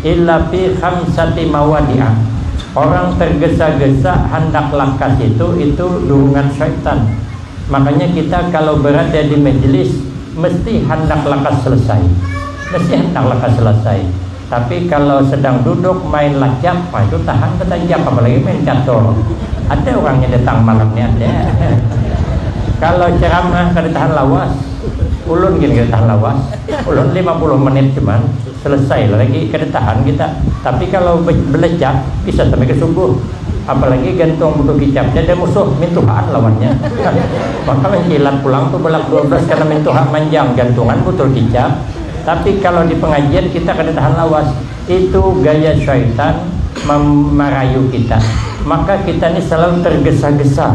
illa fi khamsati mawadi'a, orang tergesa-gesa handak lakas itu, itu durungan syaitan, makanya kita kalau berada di majlis mesti handak lakas selesai, mesti handak lakas selesai, tapi kalau sedang duduk main lacak, nah itu tahan betajak, apalagi main catur, ada orang nya datang malam ni ada, kalau ceramah kada tahan lawas, ulun gin kada tahan lawas, ulun lima puluh menit cuman. Selesai lagi kada tahan kita. Tapi kalau belecak bisa sampai ke subuh. Apalagi gantung buku kicapnya ada musuh mintuhaan lawannya. Maka mencilat pulang tu bolak dua belas karena mintuha manjang gantungan butul kicap. Tapi kalau di pengajian kita kada tahan lawas. Itu gaya syaitan marayu kita. Maka kita ni selalu tergesa-gesa.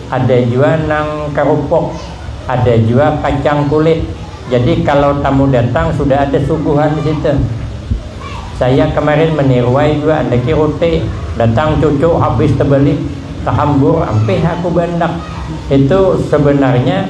ada jua nang karupuk, ada jua kacang kulit, jadi kalau tamu datang sudah ada suguhan di situ. Saya kemarin meniruai jua andaki rute, datang cucu habis tebalik, tahambur ampih aku baandak. Itu sebenarnya.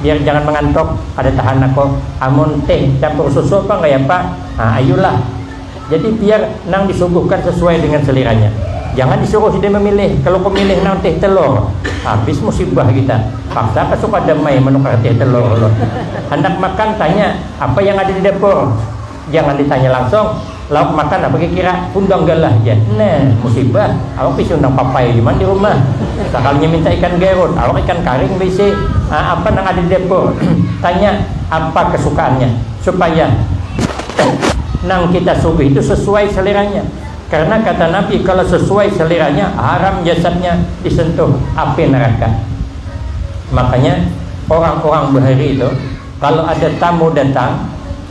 biar jangan mangantok, kada tahan nako amun teh campur susu apa nggak ya pak, ha ayulah, jadi biar nang disuguhkan sesuai dengan seliranya, jangan disuruh sidin memilih, kalu ku milih nang teh telur, habis musibah kita, paksa ka sukadam ai manukar teh telur ulun, handak makan tanya apa yang ada di dapur. Jangan ditanya langsung, lauk makan apa kira-kira? Undang galah haja. Nah, musibah. Awak bisi undang papai jua man di rumah. Sakalinya minta ikan garut, awak ikan karing bisi. Ah, apa nang ada di dapur? Tanya apa kesukaannya. Supaya nang kita suguhi itu sesuai seleranya. Karena kata Nabi, kalau sesuai seleranya, haram jasadnya disentuh api neraka. Makanya, orang-orang bahari itu, kalau ada tamu datang,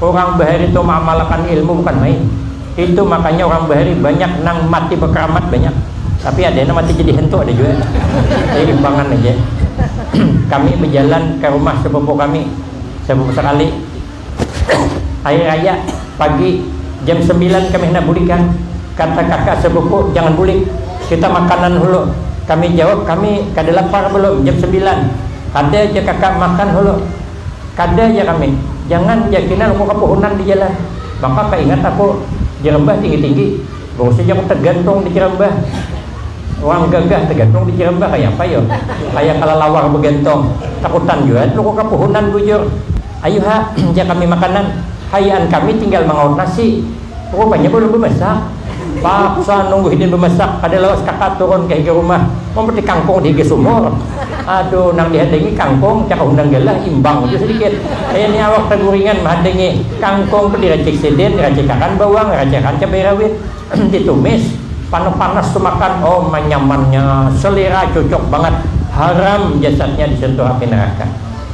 Urang bahari tu maamalakan ilmu bukan main. Itu makanya urang bahari banyak nang mati bakaramat banyak. Tapi ada nang mati jadi hantu ada jua. Jadi imbangan haja. kami bajalan ka rumah sapupu kami, sapupu sakali. Hari raya pagi jam sambilan kami handak bulikan. Kata kaka sapupu jangan bulik kita makanan hulu. Kami jawab kami kada lapar balum jam sambilan. Ada ja kaka makan hulu. Kada jar kami, jangan jar Kina aku ka puhunan di jalan, maka kaingat aku jerambah tinggi-tinggi, barusaja aku tagantung di jerambah, urang gagah tagantung di jerambah kayapa yo, kaya kalalawar bagantung, takutan jua aku ka puhunan bujur, ayuha jar kami makanan, hayaan kami tinggal mangaut nasi. Rupanya balum bamasak. Paksa nunggu hidin bamasak, kada lawas kaka turun ka higa rumah mambatik kangkung di higa sumur. Aduh, nang dihadangi kangkung, caka hundang galah, imbang jua sadikit. Kaya ni awak taguringan mahadangi kangkung tu diracik sidin, diracikakan bawang, diracikakan cabai rawit, ditumis, panas-panas tu makan, oh manyamannya, selera, cucuk bangat. Haram jasadnya disentuh api neraka.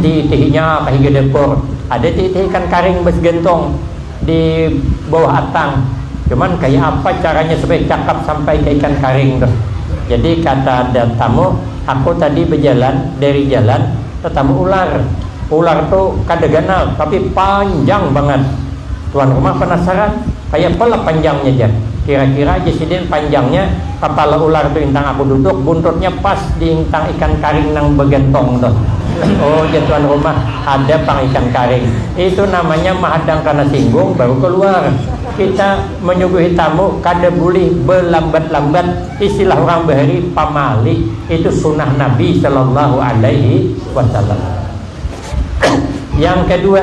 Di itihinya kahiga dapur ada ti itih ikan karing basgantung di bawah atang cuman kaya apa caranya supaya cakap sampai ka ikan karing tuh jadi kata ada tamu aku tadi bajalan dari jalan tatamu ular ular tu kada ganal tapi panjang bangat tuan rumah panasaran kaya apa lah panjangnya jar kira-kira aja sidin panjangnya Kapala ular tu intang aku duduk, buntutnya pas di intang ikan karing nang bagantong tu. Oh jar tuan rumah, ada pang ikan karing. Itu namanya mahadang kana singgung baru kaluar. Kita manyuguhi tamu kada bulih balambat-lambat, istilah urang bahari pamali, itu sunah Nabi sallallahu alaihi wasallam. Yang kadua.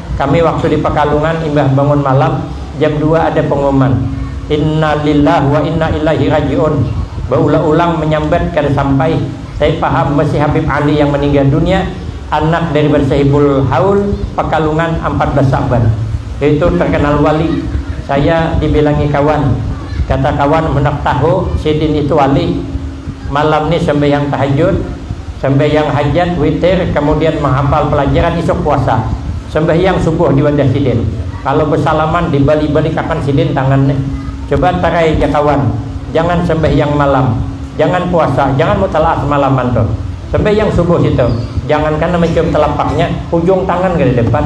Kami waktu di Pakalungan imbah bangun malam jam dua ada pengumuman Inna lillah wa inna illaihi raji'un baulah-ulang menyambat kada sampai saya paham mesti Habib Ali yang meninggal dunia anak daripada Sahibul Haul Pakalungan ampat belas Sa'ban yaitu terkenal wali saya dibilangi kawan kata kawan handak tahu sidin itu wali Malam ni sambahyang tahajud, sambahyang hajat, witir, kamudian mahapal palajaran isuk puasa. Sambahyang subuh di wadah sidin. Kalo basalaman dibalik-balik akan sidin tangan ne. Coba tarai ja kawan, jangan sambahyang malam, jangan puasa, jangan mutalaah samalaman tuh. Sambahyang subuh situ, jangan kan namacium talapaknya, hujung tangan kadada empat.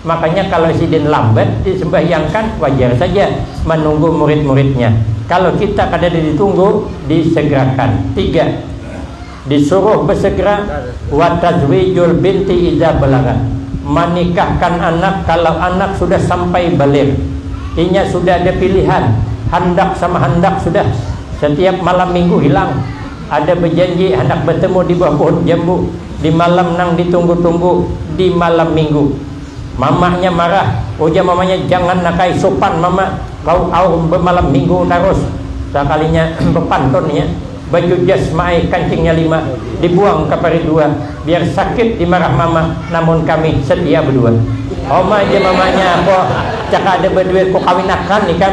Makanya kalau sidin lambat disembahyangkan wajar saja manunggu murid-muridnya. Kalau kita kadada ditunggu disegerakan. Tiga, disuruh bersegera, watazwijul binti idza balagat, manikahkan anak kalau anak sudah sampai baligh. Inya sudah ada pilihan, handak sama handak sudah setiap malam minggu hilang. Ada bajanji handak batemu di bawah pohon jambu di malam nang ditunggu-tunggu di malam minggu. Mamanya marah, ujar mamanya jangan nakai supan mama, kau aum bamalam minggu tarus. Sakalinya bapantun inya, baju jas maai kancingnya lima dibuang ka parit dua, biar sakit dimarah mama namun kami setia bedua. Homa ja mamanya, ko cakada baduit ku kawinakan ikam.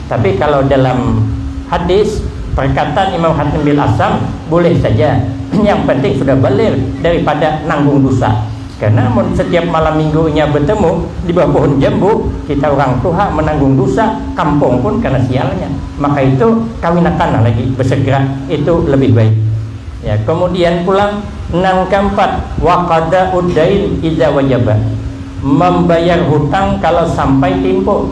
Tapi kalau dalam hadis perkataan Imam Hatim bil Asam boleh saja yang penting sudah balir daripada nanggung dusa karena mun setiap malam minggu inya betemu di bawah pohon jambu kita urang tuha menanggung dusa kampung pun kena sialnya maka itu kawinakanlah lagi besegera itu lebih baik ya kemudian pulang nang keempat waqada uddain iza wajaba membayar hutang kalau sampai timpo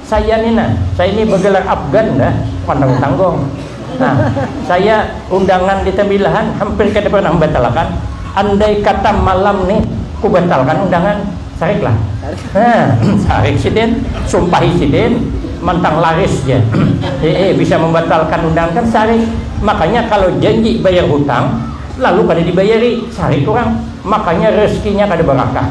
Saya ni nah, saya ni bergelar Afgan dah, pandang tanggung. Nah, saya undangan di Tembilahan hampir kada pernah membatalkan. Andai kata malam ni ku batalkan undangan, sarik lah. Nah, sarik sidin, sumpahi sidin, mantang laris ja. Hehe, bisa membatalkan undangan kan sarik. Makanya kalo janji bayar hutang, lalu kada dibayari, sarik urang. Makanya rezekinya kada barakah.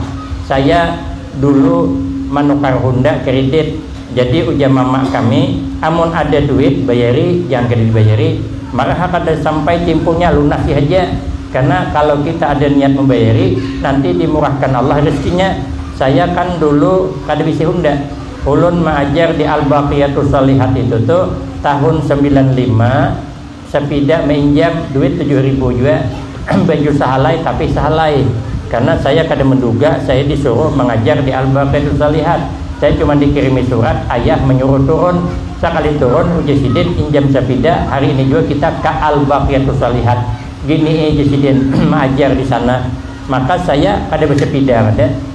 Saya. Dulu manukar Honda kredit, jadi ujar mama kami, amun ada duit bayari, jangan kada dibayari, maraha kada sampai timpunya lunasi haja, karena kalau kita ada niat membayari, nanti dimurahkan Allah rezekinya, saya kan dulu kada bisi Honda, ulun maajar di Al-Baqiyatus Shalihat itu tu tahun sembilan lima, Sapida mainjam duit tujuh ribu jua baju sahalai tapi sahalai karna saya kada manduga saya disuruh mangajar di Al Baqiyatu Shalihat saya cuma dikirimi surat ayah manyuruh turun sakali turun ujar sidin injam sapida hari ini jua kita ka Al Baqiyatu Shalihat gini i ujar sidin maajar disana maka saya kada basapida kada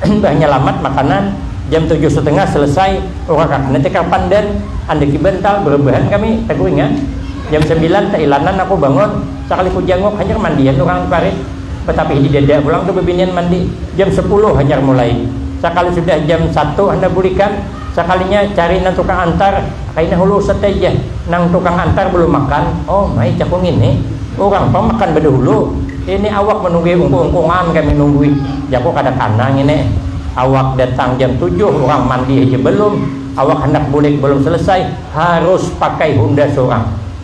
Imbah nyalamat makanan, jam tujuh setengah selesai urakak ne tikar pandan, andaki bantal, berebahan kami, taguringan. Jam sembilan teilanan aku bangun, sakali ku janguk hanyar mandian urang di parit, batapih di dada pulang tu bebinian mandi. Jam sepuluh hanyar mulai, sakali sudah jam satu handak bulikan, Sakalinya cari nang tukang antar, kaina hulu Ustadz ai jar, nang tukang antar balum makan, oh mai jaku ngini, urang pang makan badahulu, ini awak manunggui ungkung-ungkungan kami nunggui jaku kada kana ngini, awak datang jam tujuh urang mandi haja balum, awak handak bulik balum salasai, harus pakai hunda surang.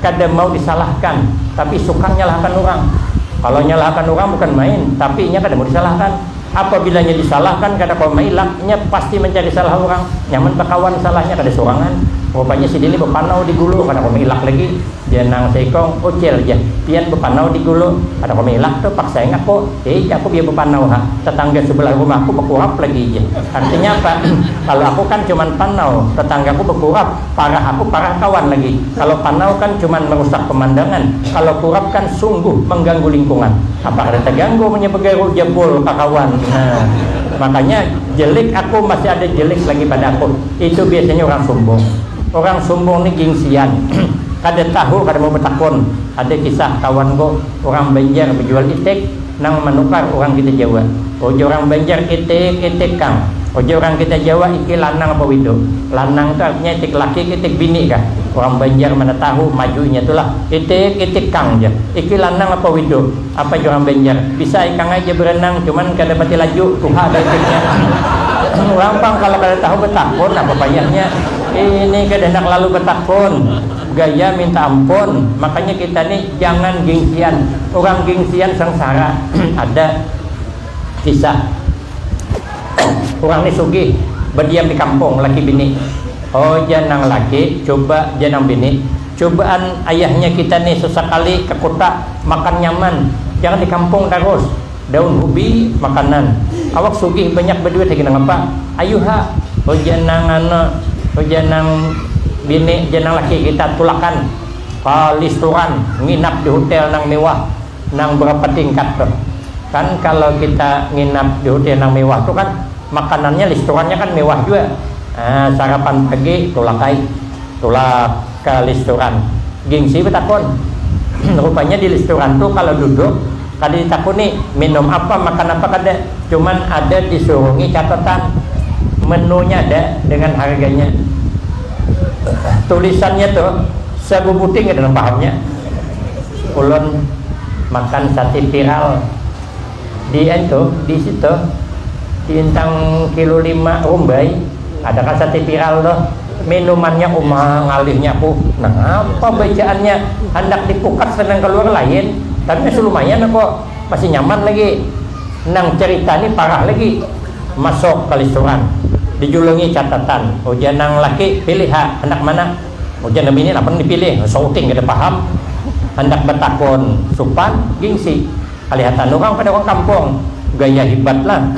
kada mau disalahkan tapi suka nyalahkan urang. Kalau nyalahkan urang bukan main, tapi inya kada mau disalahkan. Apabila inya disalahkan kada kawa mailak, inya pasti mancari salah urang. Nyaman bakawan salahnya kada surangan. Rupanya sidin ni bapanau di gulu, kada kawa mailak lagi. Jar nang saikung, Ucil jar, pian bapanau di gulu, kada kawa mailak tu, paksaing aku. Hei jar aku biar bapanau ha, tatangga subalah rumahku bakurap lagi jar. Artinya apa? Kalau aku kan cuman panau, tatanggaku bakurap. Parah aku parah kawan lagi kalo panau kan cuman merusak pemandangan kalo turap kan sungguh mengganggu lingkungan apa kada teganggu munnya begaru ja bul kakawan nah makanya jelik aku masih ada jelik lagi pada aku itu biasanya urang sumbung urang sumbung ni gingsian kada tahu kada mau betakun ada kisah kawanku urang banjar bejual itik Nang manukar urang kita jawa. Ujar urang banjar itik itik kang. Ujar urang kita jawa iki lanang apa wido. Lanang tu artinya itik laki ka itik bini kah. Urang banjar mana tahu maju inya tu lah. Itik itik kang jar. Iki lanang apa wido. Apa jar urang banjar. Bisa ikang ai jar berenang cuman kada pati laju. Tuha dah itiknya. urang pang kalo kada tahu betakun apa payahnya. Ini kada handak lalu betakun. Gaya minta ampun. Makanya kita ni. Jangan gingsian, urang gingsian sangsara. Ada kisah, urang ni sugih badiam di kampung laki bini. O jar nang laki, cuba jar nang bini, cubaan ayahnya kita ni sasakali ka kuta makan nyaman, jangan di kampung tarus. Daun hubi makanan, awak sugih banyak baduit lagi nangapa, ayu ha. Ujar nang anu, ujar nang bini, jar nang laki kita tulakan. ka listuran, nginap di hutel nang mewah nang berapa tingkat tuh. Kan kalo kita nginap di hutel nang mewah tuh kan makanannya listurannya kan mewah jua. Nah, sarapan pagi tulak ai. Tulak ka listuran. Gingsi betakun. Rupanya di listuran tuh kalo duduk. Kada ditakuni minum apa, makan apa kada, cuman ada disurungi catatan menunya ada dengan harganya. Tulisannya tu sabubuting kada nang pahamnya. Ulun makan sate tiral di ditu di situ di intang kilo lima rumbai. Ada kan sate viral tuh. Minumannya uma ngalihnya aku. Nangapa bacaannya handak dipukat senang keluar lain. Tapi masih lumayan aku. Masih nyaman lagi. Nang cerita ni parah lagi. Masuk kalisuran. Dijulungi catatan. Ujar nang laki, pilih ha, handak mana? Ujar nang bini, napa nang dipilih? Sauting kada paham. Handak batakun supan, gingsi. Kalihatan urang pada urang kampung. Gaya hibat lah.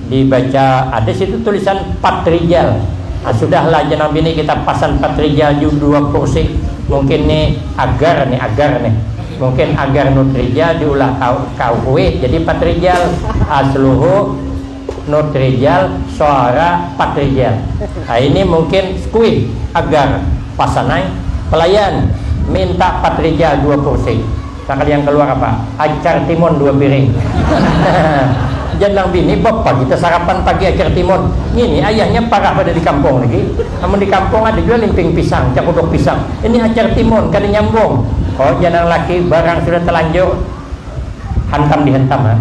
Di baca ada situ tulisan patrijal. Nah sudah lah aja nang bini kita pasan patrijal ju dua kursi. Mungkin ni agar ni agar ni. Mungkin agar nutrijal di ulah ka kahuit jadi patrijal. Asluhu. Not rijal, soara pat rijal. Nah ini mungkin squid agar pasanai, pelayan minta pat rijal dua pursi. Nakal yang keluar apa? Acar timun dua piring. Jar nang bini, bapa kita sarapan pagi acar timun. Ngini ayahnya parah pada di kampung lagi. Amun di kampung ada jua limping pisang, cakuduk pisang. Ini acar timun, kada nyambung. Oh jar nang laki, barang sudah telanjur. Hantam dihantam ha.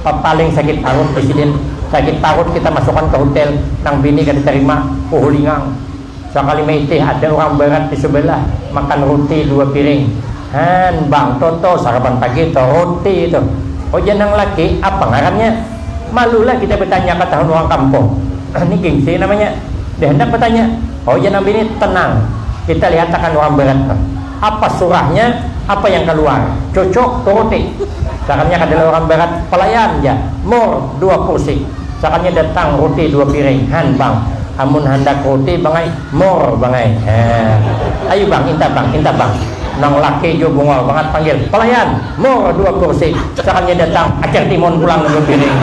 Papaling sakit parut di sidin. Sakit parut kita masukan ka hutel. Nang bini kada tarima. Uhulingang. Sakali maitih ada urang barat di subalah. Makan ruti dua piring. Han bang toto sarapan pagi to ruti tu. Ujar nang laki, apa ngarannya? Malu lah kita batanya ka tahun urang kampung. Ni gingsi namanya. Dah handak batanya. Ujar nang bini, tenang. Kita lihatakan urang barat tu. Apa surahnya, apa yang kaluar. Cucuk, turuti. Sakannya kadala urang barat, palayan ja. Mur, dua kursi. Sakannya datang ruti dua piring. Han, bang. Amun handak ruti, bang ai. Mur, bang ai. Haa. Ayu, bang. Inta, bang. Inta, bang. Nang laki jua bungol bangat panggil, palayan. Mur, dua kursi. Sakannya datang Acer Timun pulang dua piring.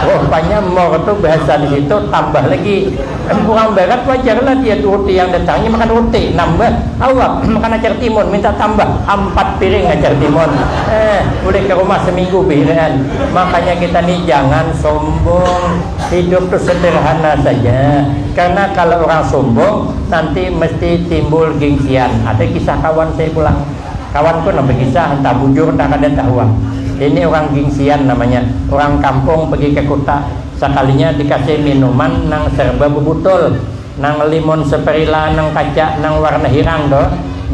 Rupanya mur tu bahasa di situ tambah lagi. Amun urang barat wajar lah dia tu roti yang datangnya makan roti, nambah, awak, makan acar timun, minta tambah, ampat piring acar timun, eh, ulih ka rumah seminggu behiraan, makanya kita ni jangan sombong, hidup tu sederhana saja, karena kalo urang sombong nanti mesti timbul gengsian, ada kisah kawan saya pulang, kawan ku nah bekisah entah bujur entah kada tahu am, ini urang gengsian namanya, urang kampung pegi ka kuta. Sakalinya dikasih minuman nang serba bubutol, nang limon seperila nang kaca nang warna hirang tu,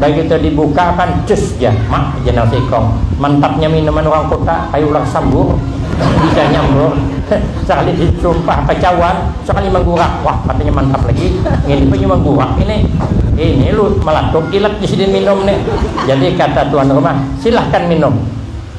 bagitu dibuka akan cus ja, mak ja nang seikong, mantapnya minuman urang kota, kaya ular sambur, bisa nyambur, sakali disumpah kacauan, sakali manggurak, wah katanya mantap lagi, ngini punya manggurak ini, ini lu malatuk ilat disidin minum ni, jadi kata tuan rumah, silahkan minum.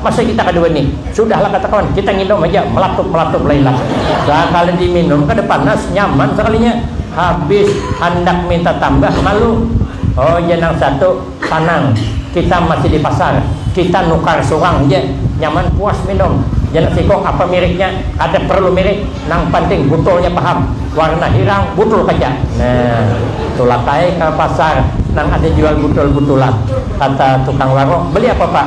Masa kita kada wani. Sudahlah kata kawan, kita nginum haja, malatup-malatup lailah. Sakali diminum kada panas, nyaman sakalinya. Habis handak minta tambah, malu. Oh jar nang satu, tanang, kita masih di pasar, kita nukar surang ja. Nyaman puas minum. Jar nang sikung, apa miriknya, kada parlu mirik, nang panting butulnya paham, warna hirang, butul kaca. Nah, tulak ai ka pasar nang ada jual butul-butulan. Kata tukang warung, beli apa pak?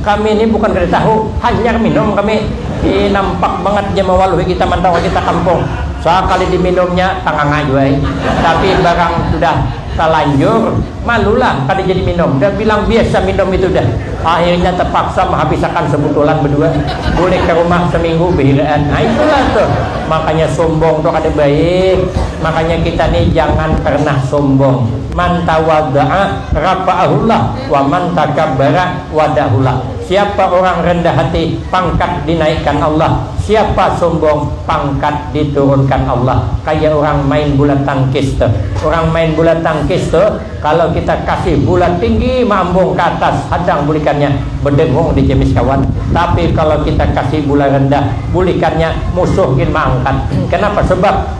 Kami ni bukan kada tahu, hanyar minum kami. Ih nampak bangat ja mawaluhi kita mantau haja takampung. Sakali diminumnya tanganga jua ai. Tapi barang sudah talanjur, malulah kada jadi minum. Dah bilang biasa minum itu dah. Akhirnya tapaksa mahabisakan sabutulan badua. Bulik ka rumah saminggu bahiraan. Nah itulah tuh, makanya sumbung tu kada baik. Makanya kita ni jangan pernah sumbung. Man tawadda'a rafa'ahullah. Wa man takabbara wadahulah, siapa orang rendah hati, pangkat dinaikkan Allah, siapa sombong, pangkat diturunkan Allah. Kaya orang main bula tangkis tuh. Orang main bula tangkis tuh, kalo kita kasih bula tinggi maambung ka atas hadang bulikannya, bedengung di jemis kawan. Tapi kalo kita kasih bula rendah bulikannya, musuh gin maangkat. Kenapa sebab?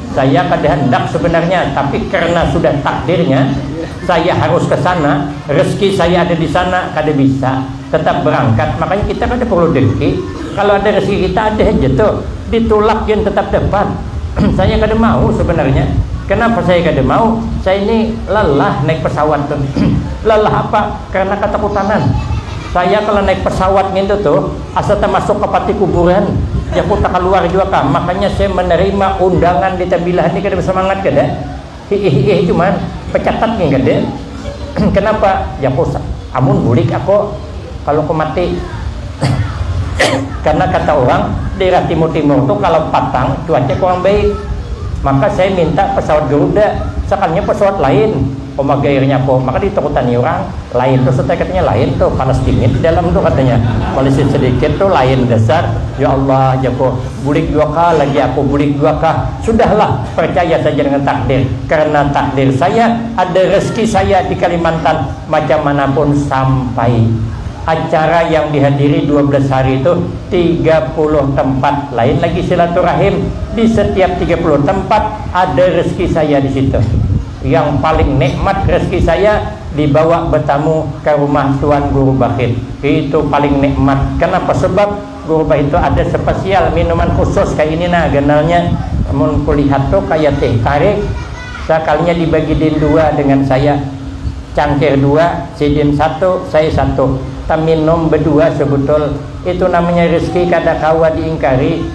Saya kada handak sebenarnya, tapi karena sudah takdirnya, saya harus ke sana, rezeki saya ada di sana, kada bisa tetap berangkat, makanya kita kada perlu dengki, kalau ada rezeki kita ada haja tuh, ditulak gin tetap dapat, saya kada mau sebenarnya, kenapa saya kada mau, saya ni lelah naik pesawat tuh, lelah apa, karena katakutanan, saya kalau naik pesawat ngintu tuh. Asa tamasuk ka pati kuburan. Jaku takaluar jua kah. Makanya saya menerima undangan di tabilahan ni kada basamangat kada. Hiih-hiih cuman, pecatat gin kada. Kenapa? Jaku sa, amun bulik ako, kalau ko mati. Karena kata urang, daerah timur-timur tu kalau patang, cuaca kurang baik. Maka saya minta pesawat Garuda, sakalinya pesawat lain. Uma gair nya ko, maka di takutan ni urang, lain tu setai katanya lain tu, panas dingin di dalam tu katanya, malisit sedikit tu lain dasar, ya Allah jar ko, bulik jua kah lagi aku, bulik jua kah, sudah lah percaya saja dengan takdir, karena takdir saya ada rezeki saya di Kalimantan, macam mana pun sampai, acara yang di hadiri dua belas hari tu tiga puluh tempat, lain lagi silaturahim, di setiap tiga puluh tempat ada rezeki saya di situ. Yang paling nikmat rezeki saya dibawa betamu ka rumah tuan guru Bahit. Itu paling nikmat. Kenapa? Sebab guru Bahit tu ada spesial minuman khusus kaya ini nah ganalnya. Mun kulihat tu kaya teh tarik. Sakalinya dibagi din dua dengan saya. Cangkir dua, sidin satu, saya satu. Taminum bedua sebutul. Itu namanya rezeki kada kawa diingkari.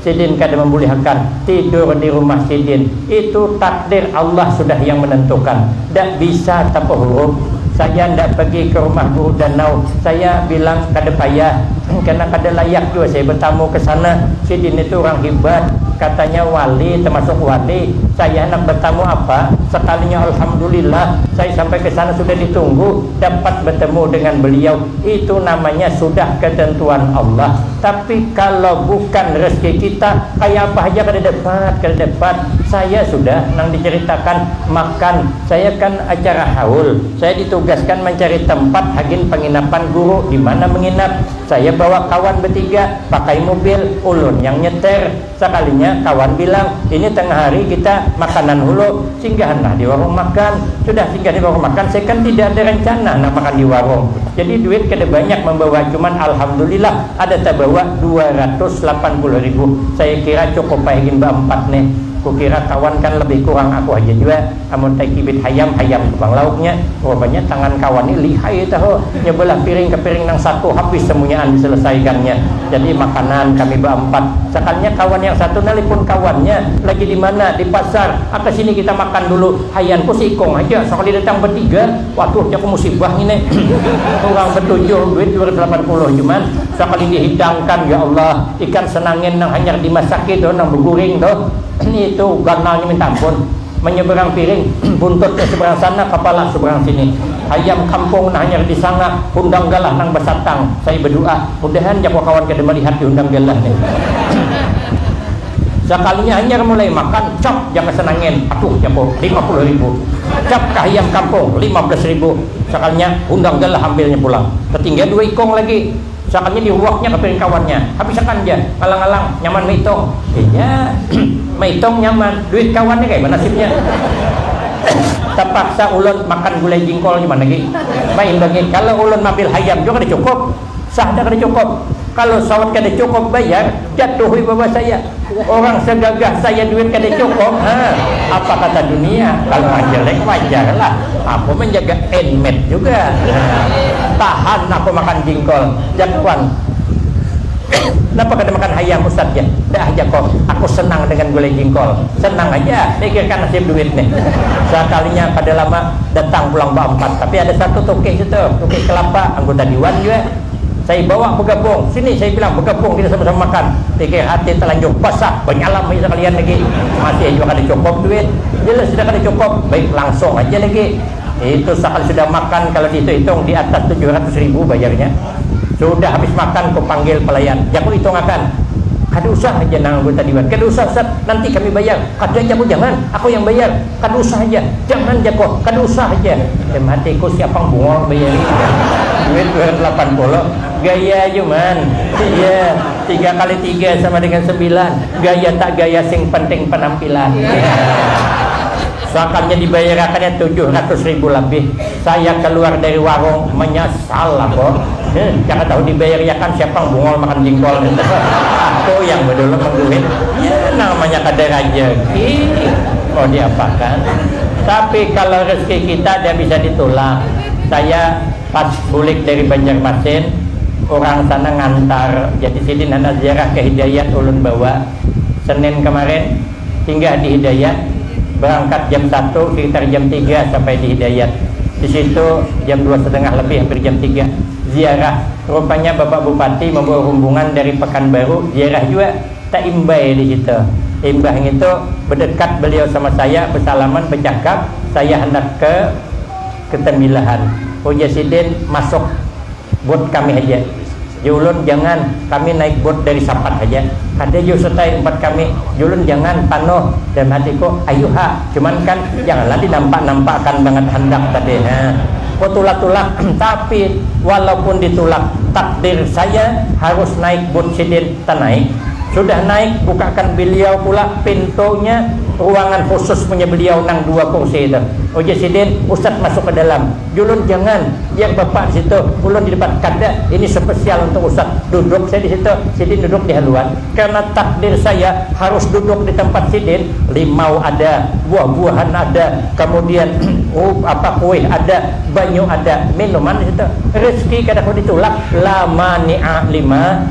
Sidin kada mambulihakan tidur di rumah sidin, itu takdir Allah sudah yang menentukan, ndak bisa tapahurup. Saya ndak pagi ke rumah Guru Danau, saya bilang kada payah, karena kada layak jua saya betamu ke sana, sidin itu urang hibat, katanya wali tamasuk wali, saya handak betamu apa, sekalinya Alhamdulillah saya sampai ke sana sudah ditunggu, dapat betemu dengan beliau, itu namanya sudah ketentuan Allah. Tapi kalo bukan rezeki kita, kaya apa haja kada dapat, kada dapat. Saya sudah nang diceritakan makan, saya kan acara haul, saya ditugaskan mancari tempat hagin panginapan guru dimana menginap. Saya bawa kawan betiga, pakai mubil, ulun yang nyeter. Sakalinya kawan bilang, ini tengah hari kita makanan hulu, singgahanlah di warung makan. Sudah singgah di warung makan, saya kan tidak ada rencana handak makan di warung. Jadi duit kada banyak mambawa, cuman alhamdulillah ada tabawa dua ratus lapan puluh ribu. Saya kira cukup ai gin baampat nih. Kukira kawan kan lebih kurang aku haja jua. Amun taicibit hayam, hayam tu pang lauknya. Rupanya tangan kawan ni lihai tahu, nya beulah piring ka piring nang satu habis semunyaan diselesaikannya. Jadi makanan kami baampat. Sakannya kawan yang satu nalepon kawannya, lagi di mana, di pasar, aka sini kita makan dulu. Hayanku si ikung haja, sakali datang betiga, waduh jaku musibah ngini. Urang betujuh, duit dua ratus lapan puluh cuman, sakali dihidangkan, ya Allah, ikan senangin nang hanyar dimasaki tu, nang beguring tu, itu ganalnya minta ampun. Manyeberang piring, buntut nya seberang sana, kapala seberang sini. Hayam kampung nah hanyar disanga hundang galah nang basatang. Saya badu'a, mudahan jako kawan kada malihat di hundang galah nih. Sakalinya hanyar mulai makan, cap jaka sanangin, aduh jako lima puluh ribu. Cap ka hayam kampung, lima belas ribu. Sakalinya hundang galah ambilnya pulang. Tatinggal dua ikung lagi. Sakannya dihuaknya ka piring kawannya, habis akan ja, ngalang-ngalang, nyaman maitong. Inya, maitong nyaman, duit kawannya kaya mana nasibnya. Tapaksa ulun makan gulai jingkol nyaman lagi, maimbangi. Kalo ulun mambil hayam jua kada cukup, sah dah kada cukup. Kalo saut kada cukup bayar. Jat tuhoi bawa saya, orang segagah saya duit kada cukup ha, apa kata dunia kalau orang jelek wajarlah aku menjaga inmate juga ha, tahan aku makan jingkol jat wan napa kada makan hayam ustad ja da ah jako aku senang dengan gulai jingkol senang haja mikirkan nasib duit nih sakalinya kada lama datang pulang ba empat tapi ada satu tukik itu tukik kelapa anggota diwan jua. Saya bawa bagapung, sini saya bilang bagapung kita sama-sama makan, pikir hati talanjur basah banyalam haja sakalian lagi, masih haja kada cukup duit, jelas sudah kada cukup, baik langsung haja lagi, itu sakali sudah makan kalo dihitung-hitung di atas tujuh ratus ribu bayarnya, sudah habis makan ku panggil pelayan, jaku hitung akan, kada usah haja nang anggota diwan, kada usah ustad, nanti kami bayar, kada jaku jangan, aku yang bayar. Kada usah haja, jangan ja ko, kada usah haja. Dalam hatiku, siapang bungol baya ni jar. Duit dua ratus lapan puluh, gaya ja man. Iya, tiga kali tiga sama dengan sembilan, gaya tak gaya sing penting penampilan. Suakannya dibayarakannya tujuh ratus ribu labih. Saya keluar dari warung menyesal aku. Huh, kada tahu dibayariakan siapa yang bungol makan jingkol nitu. Aku yang bedulu mengguhit. Ya namanya kada rajeki mau diapakan. Tapi kalau rezeki kita ada bisa ditulak. Saya pas bulik dari Banjarmasin, urang sana ngantar, jadi sidin handak ziarah ke Hidayat ulun bawa. Senin kemarin. Singgah di Hidayat, berangkat jam satu, sekitar jam tiga sampai di Hidayat. Di situ jam dua setengah lebih, hampir jam tiga. Ziarah, rupanya Bapak Bupati membawa rumbungan dari Pekanbaru, ziarah jua, taimbai di situ. Imbah ngitu, bedekat beliau sama saya, besalaman, becakap, saya handak ke. Ketambilahan, ujar sidin, masuk bot kami haja jar ulun, jangan, kami naik bot dari Sapat haja, kada jauh Sutai umpat kami, jar ulun, jangan, panuh, dalam hatiku, ayu ha, cuman kan janganlah dinampak-nampakan bangat handak tadi ha, kutulak-tulak, tapi walaupun ditulak takdir saya harus naik bot sidin. Kita naik. Sudah naik, bukakan beliau pula pintunya ruangan khusus punya beliau nang dua kursi itu. Ujar sidin, Ustadz masuk ke dalam. Julun, Jangan. Biar bapak di situ. Ulun di depan. Kada. Ini spesial untuk Ustadz. Duduk saya di situ. Sidin duduk di haluan. Karena takdir saya harus duduk di tempat sidin. Limau ada, buah-buahan ada, kemudian apa kuih ada, banyu ada, minuman di situ. Rezeki kada kawa ditulak. La mani'a lima.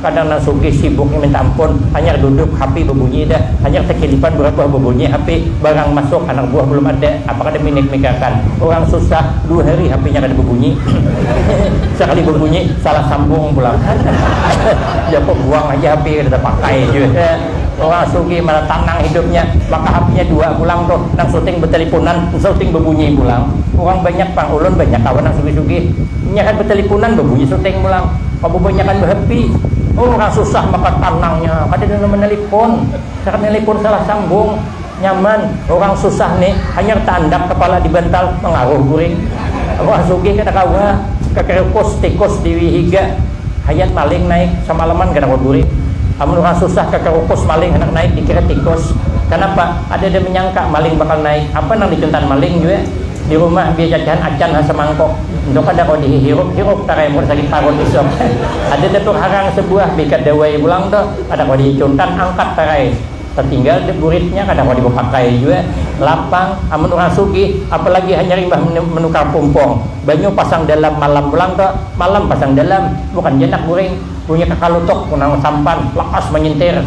Kadang nang sugih sibuknya minta ampun, hanyar duduk hapi babunyi dah, hanyar takilipan barabuah babunyi hapi, barang masuk anak buah balum ada, apa kada minik migakan, urang susah, dua hari hapinya kada babunyi, sakali babunyi salah sambung pulang, japa buang haja hapi kada tapakai jua, urang sugih mana tanang hidupnya, maka hapinya dua pulang tuh, nang suting batalipunan, nang suting babunyi pulang, urang banyak pang, ulun banyak kawan nang sugih-sugih. Nyarat batalipunan, babunyi seleteng pulang. Bababanyakan bahapi. Urang susah maka tanangnya. Kada nang manalipun. Nyarat nalipun salah sambung. Nyaman. Urang susah ni hanyar taandak kapala di bantal mangaruh guring. Urang sugih kada kawa. Kakarikus, tikus diwi higa. Hayat maling naik. Samalaman kada kawa guring. Amun urang susah kakarikus maling handak naik dikira tikus. Kanapa? Kadada manyangka maling bakal naik. Apa nang dicuntan maling jua. Di rumah biar cacahan acan ha samangkok, ntu kada kawa di hihirup hirup tarai mun sakit parut isuk. Ada datur harang sabuah bika dawai pulang tu, kada kawa di icunkan angkat tarai. Tatinggal da buritnya kada kawa di bapakai jua, lapang, amun urang sugih, apalagi hanyar imbah manukar pumpung, banyu pasang dalam malam pulang tu, malam pasang dalam, bukan ja nak guring, bunyi kakalutuk, nang sampan, lakas manyintir,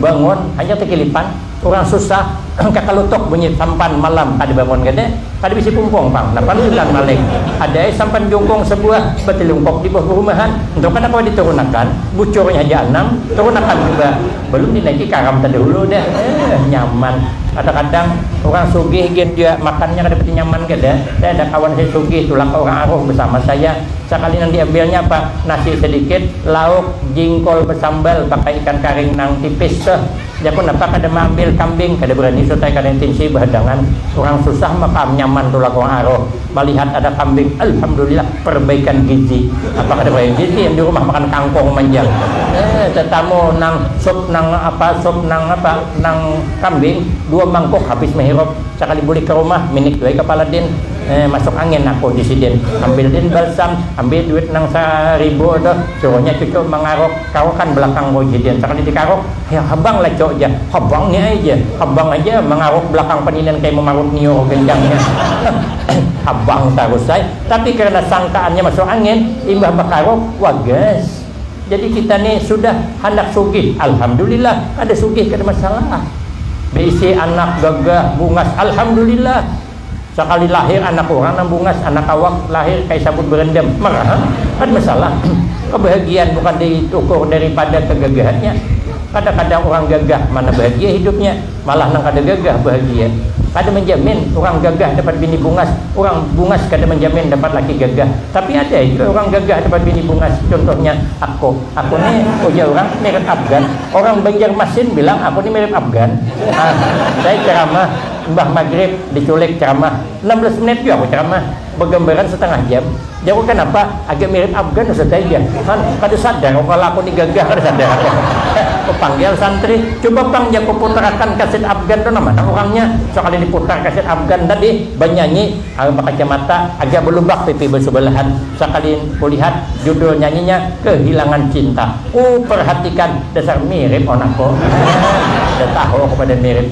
bangun, hanyar takilipan. Urang susah kakalutuk bunyi sampan malam kada bangun kene, kada bisi pumpung pang napa lanjutan maling. Ada ai sampan jungkung sabuah batilungkuk di buah barumahan, ntu kada kawa diturunakan, bucurnya haja anam, turunakan suba, balum dinaiki karam tadahulu dah, eh nyaman. Kadakadang urang sugih gin jua makannya kada pati nyaman kada, saya ada kawan saya sugih tulak ka urang aruh basama saya, sakali nang diambilnya apa, nasi sadikit, lauk, jingkol basambal pakai ikan karing nang tipis, beuh. Jaku napa kada maambil kambing, kada berani sutai kada intinsi bahadangan, urang susah maka am nyaman tulak urang aruh malihat ada kambing alhamdulillah perbaikan gizi, apa kada perbaikan gizi am di rumah makan kangkung manjang eh tetamu nang sup nang apa sup nang apa nang kambing dua mangkuk habis mahirup, sakali bulik ka rumah minik jua ai kapala din eh masuk angin aku di sidin, ambil din balsam, ambil duit nang sa ribu tuh suruhnya cucu mangaruk. Kawakan belakang ko ja diantar kada dikaruk, hayang habang lacok ja, habang ni ai ja, habang aja mangaruk belakang paninan kaya mamarut niur gendangnya, habang tarus ai, tapi karena sangkaannya masuk angin, imbah bakaruk wagas, jadi kita ni sudah handak sugih, alhamdulillah kada sugih kada masalah, beisi anak gagah bungas alhamdulillah. Sakali lahir anak urang nang bungas, anak awak lahir kaya sabut berendam. Maraha kan masalah. Kabahagiaan bukan diukur daripada kagagahannya. Kada-kada urang gagah mana bahagia hidupnya, malah nang kada gagah bahagia. Kada manjamin urang gagah dapat bini bungas, urang bungas kada manjamin dapat laki gagah. Tapi ada jua urang gagah dapat bini bungas, cuntuhnya aku. Aku ni, ujar urang, mirip Afgan. Urang Banjarmasin bilang aku ni mirip Afgan. Hah, saya ceramah. Imbah magrib diculik ceramah, enam belas menit jua aku ceramah, begambaran setengah jam, jarku kanapa agak mirip Afgan Ustaz ai jar Han, kada sadar aku kalo aku ni gagah kada sadar aku, ku panggil santri, cuba pang jar ku putarakan kasit Afgan tu nama nang urangnya, sakali diputar kasit Afgan tadi banyanyi awi bakacamata agar belubak pipi besebelahan, sakali ku lihat judul nyanyinya kehilangan cinta, ku perhatikan dasar mirip wan aku, dah tahu aku pada mirip.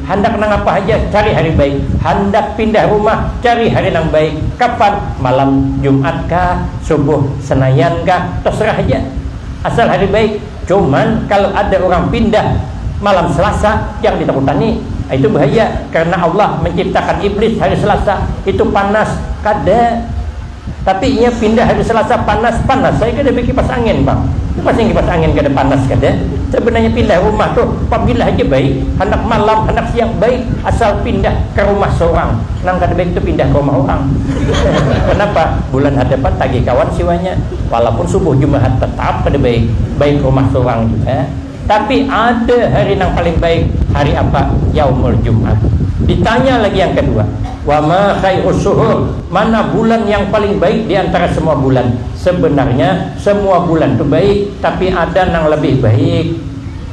Handak nangapa haja cari hari baik, handak pindah rumah cari hari nang baik, kapan, malam jumat kah, subuh senayan kah, terserah haja asal hari baik, cuman kalu ada urang pindah malam selasa jangan ditakutani, itu bahaya karna Allah menciptakan iblis hari selasa, itu panas, kada. Tapi inya pindah hari Selasa panas panas saya kada bakipas angin pang tu pasti kipas angin kada panas kada sebenarnya pindah rumah tu pabila haja baik handak malam handak siang baik asal pindah ka rumah sorang nang kada baik tu pindah ka rumah orang kenapa bulan hadapan tagih kawan siwanya walaupun subuh jumahat tetap kada baik baik rumah sorang jua. Tapi ada hari nang paling baik, hari apa? Yaumul Jum'ah. Ditanya lagi yang kedua, Wa ma khairus syuhur? Mana bulan yang paling baik di antara semua bulan? Sebenarnya semua bulan tu baik, tapi ada nang lebih baik.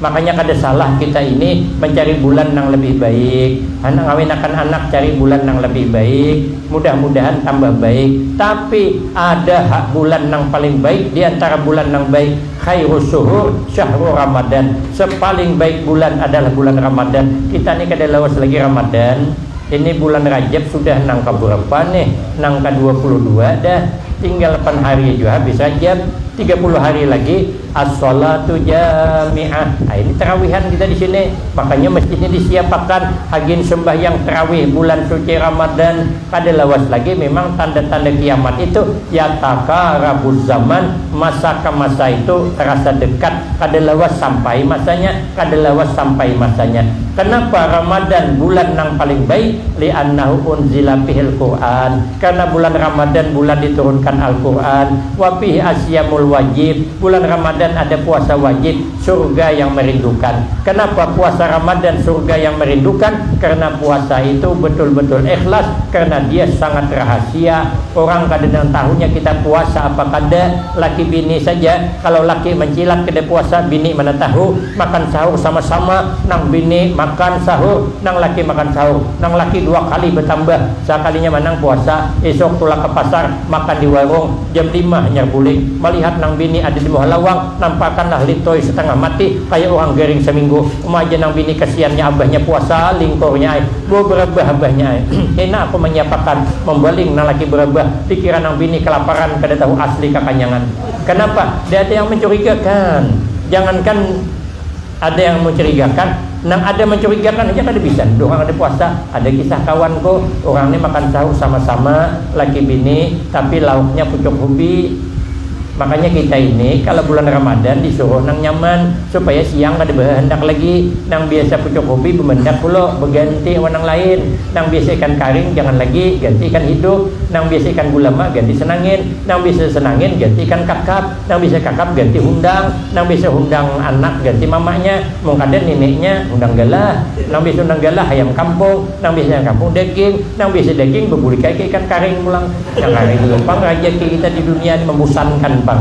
Makanya kada salah kita ini mencari bulan nang lebih baik. Handak ngawinakan anak cari bulan nang lebih baik. Mudah-mudahan tambah baik. Tapi ada ha bulan nang paling baik di antara bulan nang baik? Khairus suhur syahrur Ramadhan, sepaling baik bulan adalah bulan Ramadhan, kita ni kada lawas lagi Ramadhan, ini bulan Rajab sudah nang kaburapa nih, nang ka dua puluh dua dah, tinggal pan hari jua habis Rajab, tiga puluh hari lagi, as-sholatu jami'ah, ha ini tarawihan kita di sini, makanya masjid ni disiapakan hagin sembahyang tarawih bulan suci Ramadhan. Kada lawas lagi memang tanda-tanda kiamat itu, yataqarabuz zaman, masa ka masa itu terasa dekat, kada lawas sampai masanya, kada lawas sampai masanya. Kenapa Ramadan bulan nang paling baik? Li'annahu unzila fihil Qur'an, karena bulan Ramadan bulan diturunkan Al-Qur'an, wa fihi asyamul wajib, bulan Ramadan ada puasa wajib, Surga yang merindukan. Kenapa puasa Ramadan surga yang merindukan? Karena puasa itu betul-betul ikhlas, karena dia sangat rahasia, orang kada nang tahunya kita puasa apa kada, laki bini saja, kalau laki mancilat kada puasa bini mana tahu, makan sahur sama-sama, nang bini makan sahur, nang laki makan sahur, nang laki dua kali batambah, sakalinya manang puasa, isuk tulak ka pasar, makan di warung. Jam lima hanyar bulik, malihat nang bini ada di muha lawang, nampakan lah Lintoi satangah mati, kaya urang garing saminggu, uma aja nang bini kasiannya abahnya puasa, lingkurnya ai, bau barabah abahnya ai, kena apa manyiapakan, mambaling nang laki barabah, pikiran nang bini kalaparan kada tahu asli kakanyangan, kanapa, dada yang mancurigakan, jangankan. Ada yang mencurigakan, nang ada mencurigakan haja kada bisa nih durhaka dipuasa, ada kisah kawan ku, urang nih makan sahur sama sama laki bini tapi lauknya pucuk hubi, makanya kita ini kala bulan ramadan disuruh nang nyaman supaya siang kada behehendak lagi, nang biasa pucuk hubi bemendak kulo beganti wan nang lain, nang biasa ikan karing jangan lagi ganti ikan hidup, nang biasa ikan gulama ganti senangin, nang biasa senangin ganti ikan kakap. Nang bisa kakap ganti hundang, nang bisa hundang anak ganti mamanya, mun kada nineknya, hundang galah, nang bisa hundang galah hayam kampung, nang bisa hayam kampung daging, nang bisa daging babulik ai ka ikan karing pulang. Nang kaya itu pang rajaki kita di dunia ni mambusankan pang.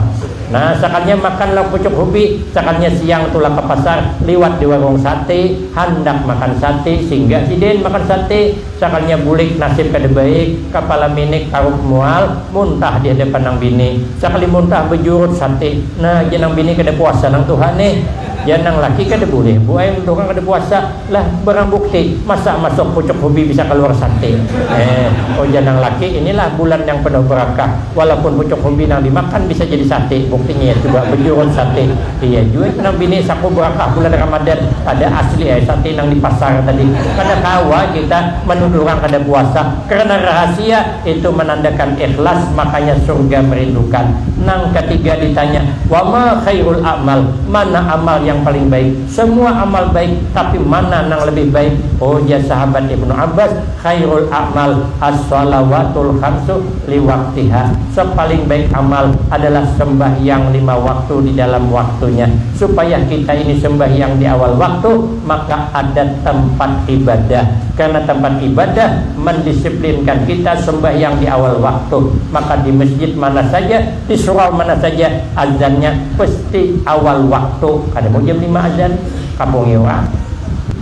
Nah, sakalinya makan lauk pucuk hubi, sakalinya siang tulak ka pasar, liwat di warung sate, handak makan sate, singgah sidin makan sate, Sakalinya bulik nasib kada baik, kapala minik taruk mual, muntah di hadapan nang bini. Sakali muntah bajurut sati. Nah, jar nang bini kada puasa nang tuha nih. Jar nang laki kada bulih bu ai mentukang kada puasa. Lah, barang bukti, masa masuk pucuk hubi bisa kaluar sati. Heh, ujar nang laki, inilah bulan yang penuh barakah. Walaupun pucuk hubi nang dimakan bisa jadi sati, buktinya ya coba bajurut sati. Iya jua nang bini saku barakah bulan ramadan kada asli ai sati nang di pasar tadi kada kawa kita manuduh urang kada puasa karena rahasia itu manandakan ikhlas makanya surga merindukan nang katiga ditanya wama khairul a'mal mana amal yang paling baik semua amal baik tapi mana nang lebih baik ujar sahabat ibnu abbas khairul a'mal as-shalawatul khamsu liwat tiha. Sepaling baik amal adalah sembahyang lima waktu di dalam waktunya. Supaya kita ini sembahyang di awal waktu, maka ada tempat ibadah. Karena tempat ibadah mendisiplinkan kita sembahyang di awal waktu. Maka di masjid mana saja, di surau mana saja, azannya pasti awal waktu. Kada mau jam lima azan, kapungi urang.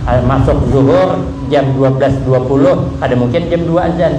Masuk zuhur jam dua belas dua puluh, kada mungkin jam dua azan.